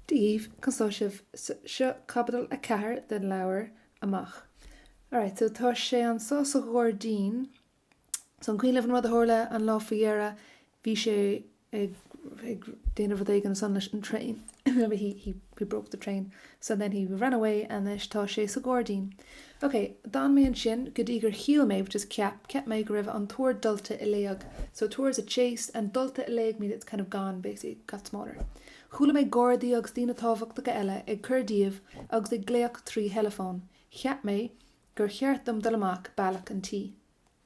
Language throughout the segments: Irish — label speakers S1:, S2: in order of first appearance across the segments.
S1: díobh go sásaimh. Seo Caibidil 4 den leabhar Amach. Alright, so tá sé anois sa ghairdín. So an cuimhin libh an rud a tharla an lá faoi dheireadh, bhí sé ag ag déanamh rud éigin ansin leis an train. He he broke the train. So then he ran away anois tá sé sa ghairdín. OK, d'fhan mé ansin go dtí gur shíl mé, which is cheap, cheap mé go raibh an tóir dulta i léig, so tóir is a chase and dulta i léig means it's kind of gone, basically, got smaller. Chuala mé gardaí agus daoine tábhachtacha eile ag cur díobh agus ag glaoch trí theileafón. Cheap mé gur cheart dom dul amach bealach an tí.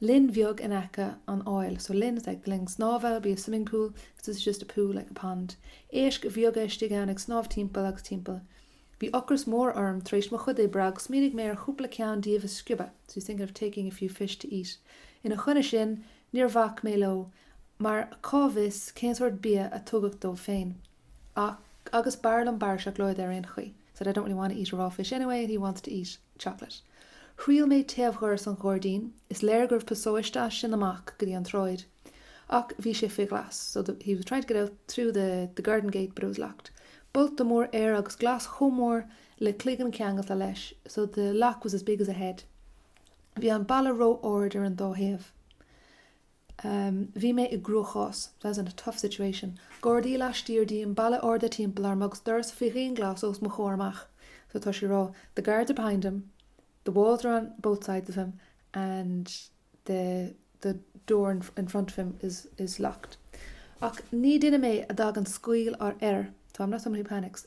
S1: linn bheag in aice an fháil, so linn is like the linn snámha, be a swimming pool, so this is just a pool like a pond. éisc bheaga istigh ann ag snámh timpeall agus timpeall. Bhí ocras mór orm tar éis mo chuid oibre agus smaoinigh mé ar chúpla ceann díobh a sciobadh, so he's thinking of taking a few fish to eat. Ina choinne sin, níor bhac mé leo, mar cá bhfios cén sórt bia a tugadh dóibh féin. Ach, agus b'fhearr liom barra seacláide ar aon chaoi, said I don't really want to eat a raw fish anyway and he wants to eat chocolate. Thriail mé taobhdhoras an ghairdín, is léir go raibh pasáiste as sin amach go dtí an tsráid, ach bhí sé faoi ghlas, so the, he was trying to get out through the, the garden gate but it was locked. Bolta mór air agus glas chomh mór le cloigeann ceangailte leis, so the lock was as big as a head. Bhí an balla ró-ard ar an dá thaobh. Bhí mé i gcruachás, I was in a tough situation. Gardaí laistiar díom, balla arda timpeall orm agus doras faoi dhianghlas os mo chomhair amach. So tá sé ag rá, the guards are behind him, the walls are on both sides of him and the the door in in front of him is is locked. Ach ní duine mé a dtagann scaoll ar air, so I'm not someone who panics.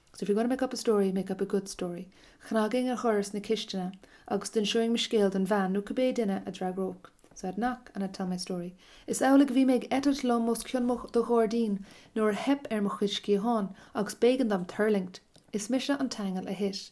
S1: So if you're going to make up a story, make up a good story. Chnagfainn ar dhoras na cistine agus d'inseoinn mo scéal don bhean nó cibé duine a d'fhreagródh. So I'd knock and I'd tell my story. Is amhlaidh a bhí mé ag eitilt liom os cionn mo do ghairdín nuair a theip ar mo chuid sciathán agus b'éigean dom tuirlingt. Is mise an t-aingeal a thit.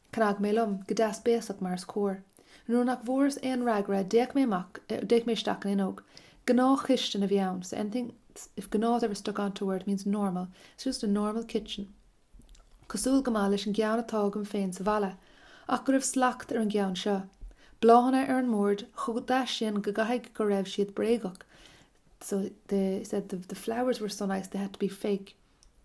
S1: Chnag mé liom, go deas béasach mar is cóir. Nuair nach bhfuaireas aon fhreagra d'fhéach mé amach, d'fhéach mé isteach an fhuinneog. Gnáthchistin a bhí ann, so anything if gnáth ever stuck onto a word it means normal, so just a normal kitchen. Cosúil go maith leis an gceann atá agam féin sa bhaile, ach go raibh slacht ar an gceann seo. Bláthanna ar an mbord, chomh deas sin go gcaithfidh go raibh siad bréagach, so they said the flowers were so nice they had to be fake.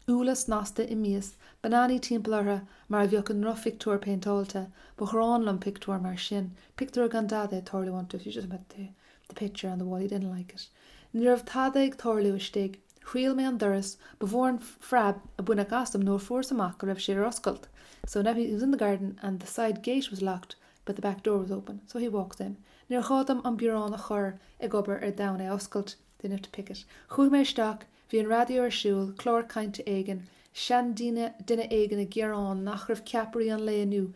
S1: úlla snasta i mias, bananaí timpeall orthu mar a bheadh i ndrochphictiúr péinteáilte, ba ghráin liom pictiúir mar sin, pictiúir gan dada ag tarlú iontu, if you just met the the picture on the wall he didn't like it. Ní raibh tada ag tarlú istigh. Thriail mé an doras, ba mhór an phreab a baineadh asam nuair a fuaireas amach go raibh sé ar oscailt, so now he was in the garden and the side gate was locked but the back door was open, so he walks in. Níor ghá dom an biorán a chur ag obair d'fhonn é a oscailt, didn't have to pick it. Chuaigh mé isteach, Bhí an raidió ar siúl, clár cainte éigin, seanduine, duine éigin ag gearán nach raibh ceapairí an lae inniu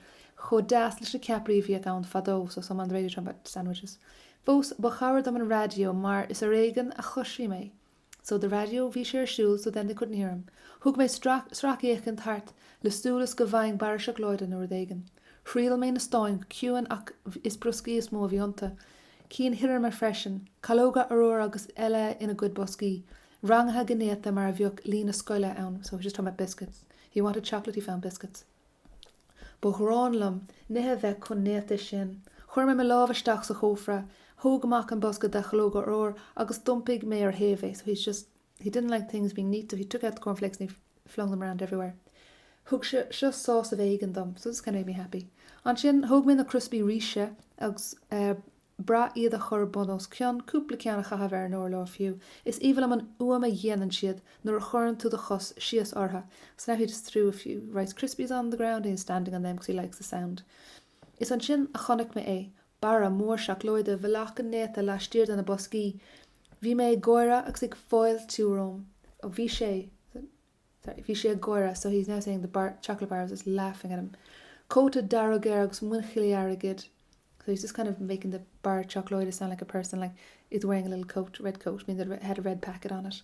S1: chomh deas leis na ceapairí a bhíodh ann fadó, so someone on the radio talking about sandwiches. Fós, ba chabhair dom an raidió mar is ar éigean a chloisfí mé. So the radio, bhí sé ar siúl so then they couldn't hear him. Thug mé sracfhéachaint thart le súil is go bhfaighinn barra seacláide nó rud éigin. Thriall mé na stáin go ciúin ach is brioscaí is mó a bhí iontu. cinn thirime freisin, calóga arúir agus eile ina gcuid boscaí, rangaithe go néata mar a bheadh líne scoile ann so he's just talking about biscuits, he wanted chocolate, he found biscuits ba ghráin liom nithe a bheith chomh néata sin, chuir mé mo lámh isteach sa chófra, thóg amach an bosca de chalóga arúir agus d'iompaigh mé ar thaobh é so he's just. He didn't like things being neat so he took out the cornflakes and he flung them around everywhere. Thug sé seo sásamh éigin dom, so this kind of made me happy. Ansin, thóg mé na criospaí ríse agus brath iad a chur bun os cionn, cúpla ceann a chaitheamh ar an urlár fiú. Is aoibhinn liom an fhuaim a dhéanann siad nuair a chuireann tú do chos síos ortha. So now he just threw a few Rice Krispies on the ground and he's standing on them because he likes the sound. Is ansin a chonaic mé é, barra mór seacláide i bhfolach go néata laistiar de na boscaí. Bhí mé ag gáire agus ag fáiltiú romham. Oh, bhí sé, sorry, bhí sé ag gáire, so he's now saying the bar, chocolate bar was just laughing at him. Cóta dearg air agus muinchillí airgid. So he's just kind of making the bar seacláide sound like a person, like he's wearing a little coat, red coat, meaning that it had a red packet on it.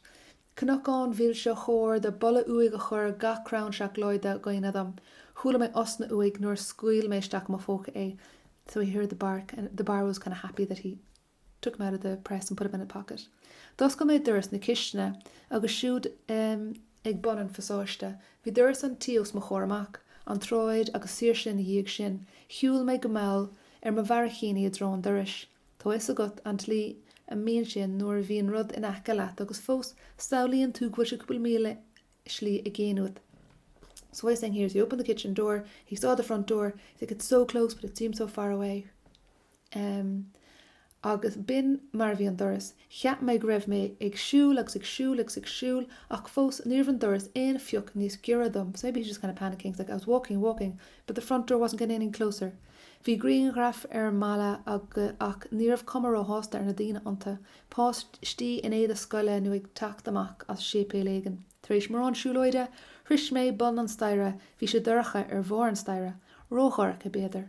S1: Cnocán mhilse chóir do boladh uaidh a chuir gach crann seacláide i gcuimhne dom. Chuala mé osna uaidh nuair a scaoil mé isteach i mo phóca é, So he heard the bark and the bar was kind of happy that he took him out of the press and put him in the pocket. D'oscail mé doras na cistine agus siúd ehm ag bun an phasáiste bhí doras an tí os mo chomhair amach, an tsráid agus saoirse ina dhiaidh sin. Shiúil mé go mall ar mo bharraicíní i dtreo an dorais. Tá fhios agat an tslí a mbíonn sé nuair a bhíonn rud in aice leat agus fós samhlaíonn tú go bhfuil sé cúpla míle slí i gcéin uait. So what he's saying here is he opened the kitchen door, he saw the front door, he's like it's so close but it seems so far away. Um, agus b'in mar a bhí an doras. Cheap mé go raibh mé ag siúl agus ag siúl agus ag siúl ach fós ní raibh an doras aon phioc níos giorra dom so maybe he's just kind of panicking he's like I was walking and walking but the front door wasn't getting any closer. Bhí grianghraif ar an mballa ach ní raibh cuma róshásta ar na daoine iontu, páistí in éide scoile nó ag teacht amach as séipéal éigin. Tar éis mórán siúlóide, shroich mé bun an staighre. Bhí sé dorcha ar bharr an staighre. Ródhorcha, b'fhéidir.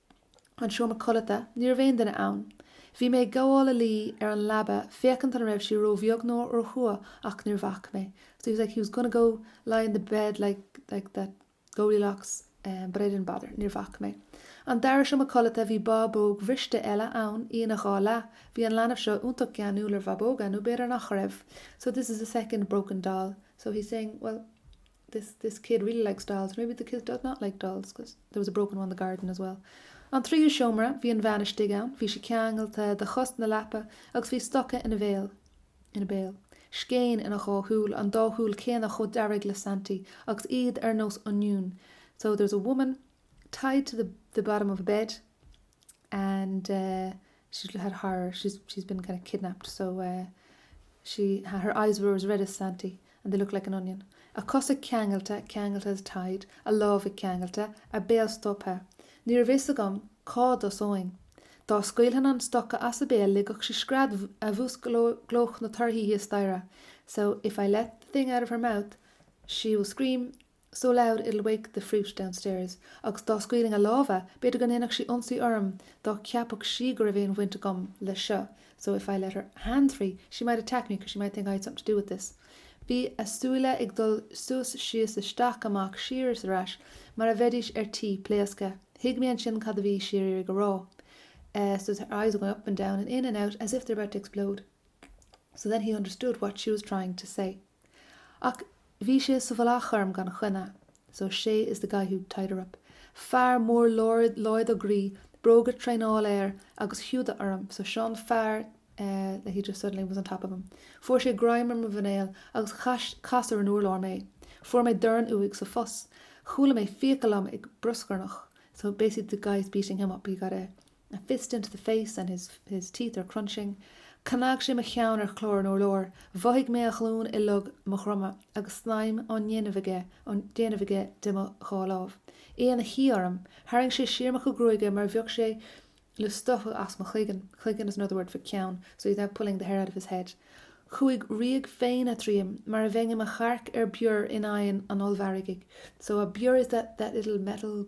S1: an seomra codlata, ní raibh aon duine ann. Bhí mé ag gabháil a luí ar an leaba féachaint an raibh sí róbheag nó róchrua ach níor bhac mé so he was like he was gonna go lie in the bed like like that Goldilocks em but I didn't bother níor bhac mé. An dara seomra codlata, bhí bábóg bhriste eile ann, í ina dhá leath. Bhí an leanbh seo iontach geanúil ar bhabóga nó b'fhéidir nach raibh so this is the second broken doll so he's saying well this, this kid really likes dolls, maybe the kid does not like dolls because there was a broken one in the garden as well. An tríú seomra, bhí an bhean istigh ann, bhí sí ceangalta de chos na leapa agus bhí stoca ina bhéal, in a béal. scéin ina dhá súil, an dá shúil chéanna chomh dearg le Santy agus iad ar nós oinniún so there's a woman tied to the the bottom of a bed and eh she's had her she's she's been kind of kidnapped so eh she ha her eyes were as red as Santy and they looked like an onion a cosa ceangailte ceangailte as tied a lámha ceangailte a béal stoptha ní raibh fhios agam cá dtosainn dá scaoilfinn an stoca as a béal ligfeadh sí scread a bhús glóch na torthaí thíos staighre so if I let the thing out of her mouth she will scream so loud it'll wake the brute downstairs agus dá scaoilinn a lámha b'fhéidir go ndéanfadh sí ionsaí orm dá gceapfadh sí go raibh aon bhaint agam leis seo so if I let her hands free she might attack me because she might think I had something to do with this. Bhí a súile ag dul suas síos isteach amach siar is ar ais mar a bheidís ar tí pléascadh. Thuig mé ansin cad a bhí sí ag iarraidh a rá. Eh, so her eyes were going up and down and in and out as if they're about to explode. So then he understood what she was trying to say. Ach bhí sé sa mhullach orm gan choinne. So sé is the guy who tied her up. Fear mór láidir groí, bróga traenála air agus húda orm. So seo an fear eh that he just suddenly was on top of him. Fuair sé greim ar mo mhuinéal agus chas chas ar an urlár mé. Fuair mé dorn uaidh sa phus. Chuala mé fiacail liom ag bruscarnach. So basically the guy is beating him up, he got a a fist into the face and his his teeth are crunching chnag sé mo cheann ar chlár an urláir, mhothaigh mé a ghlúin i log mo dhroma agus snaidhm á déanamh aige á déanamh aige de mo dhá lámh, é ina shuí orm, tharraing sé siar mo chuid gruaige mar a bheadh sé le stoitheadh as mo chloigeann, cloigeann is another word for ceann, so he's now pulling the hair out of his head, chuaigh ríog phéine tríom mar a bheinn i mo chearc ar bior in oigheann an ollmhargaidh, so a bior is that that little metal.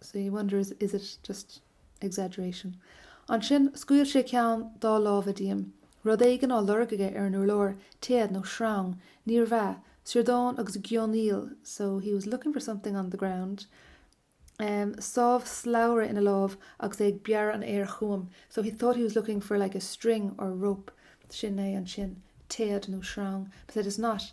S1: So you wonder, is it just exaggeration? Ansin, scaoil sé ceann dá lámha díom. Rud éigin á lorg aige ar an urlár, téad nó sreang, níorbh ea, siordán agus geonaíl, so he was looking for something on the ground. em, sábh slabhra ina lámh agus é ag bearradh an aeir chugam, so he thought he was looking for like a string or rope. Sin é ansin, téad nó sreang, but said it's not.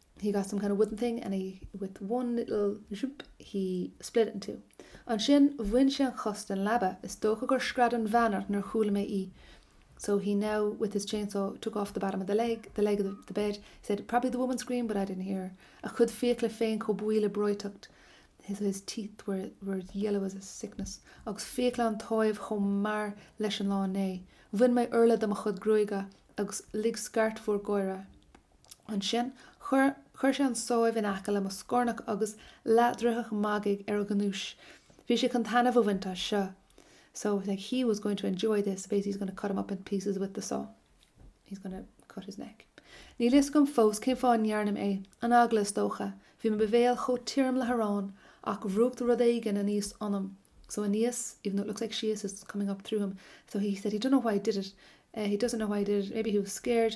S1: he got some kind of wooden thing and he with one little zhup he split it in two ansin bhain sé an chos den leaba, is dócha gur scread an bhean ach níor chuala mé í so he now with his chainsaw took off the bottom of the leg, the leg of the bed, he said probably the woman screamed but I didn't hear her a chuid fiacla féin chomh buí le breoiteacht his, his teeth were, were yellow as a sickness agus fiacla an tsáibh chomh mear leis an lá inné. Bhain mé urla de mo chuid gruaige agus lig scairt mhór gáire. Ansin chuir sé an sábh in aice le mo scornach agus leathdhraothadh magaidh ar a ghnúis. Bhí sé chun taitneamh a bhaint as seo, so like he was going to enjoy this, basically he's gonna cut him up in pieces with the saw. He's gonna cut his neck. Níl fhios agam fós cén fáth a ndearna mé é. An eagla, is dócha. Bhí mo bhéal chomh tirim le harán ach bhrúcht rud éigin aníos ionam. So aníos, even though it looks like síos is coming up through him. So he said he don't know why he did it. He doesn't know why he did it. Maybe he was scared.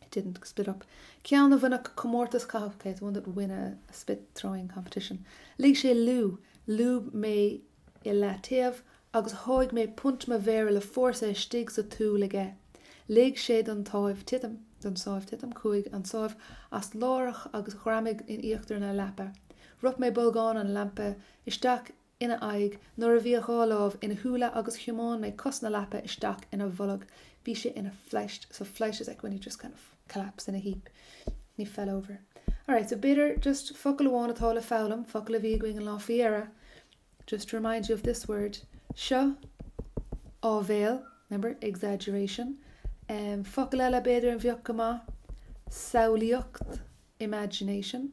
S1: it didn't spit up ceann a bhainfeadh comórtas caitheamh okay one that would win a spit-throwing competition lig sé liú, lúb mé i leataobh agus sháigh mé punt mo mhéire le fórsa istigh sa tsúil aige lig sé don tsábh titim, don sábh titim chuaigh an sábh as láithreach agus ghreamaigh in íochtar na leapa rop mé bolgán an lampa isteach i ina aghaidh nuair a bhí a dhá lámh ina shúile agus thiomáin mé cos na leapa isteach ina bholg bhí sé ina phleist so phleist is like when you just kind of collapse in a heap he fell over alright so b'fhéidir just focal amháin atá le foghlaim focal a bhí againn an lá faoi dheireadh just to remind you of this word seo áibhéil remember exaggeration um, focal eile b'fhéidir a bheadh go maith samhlaíocht imagination.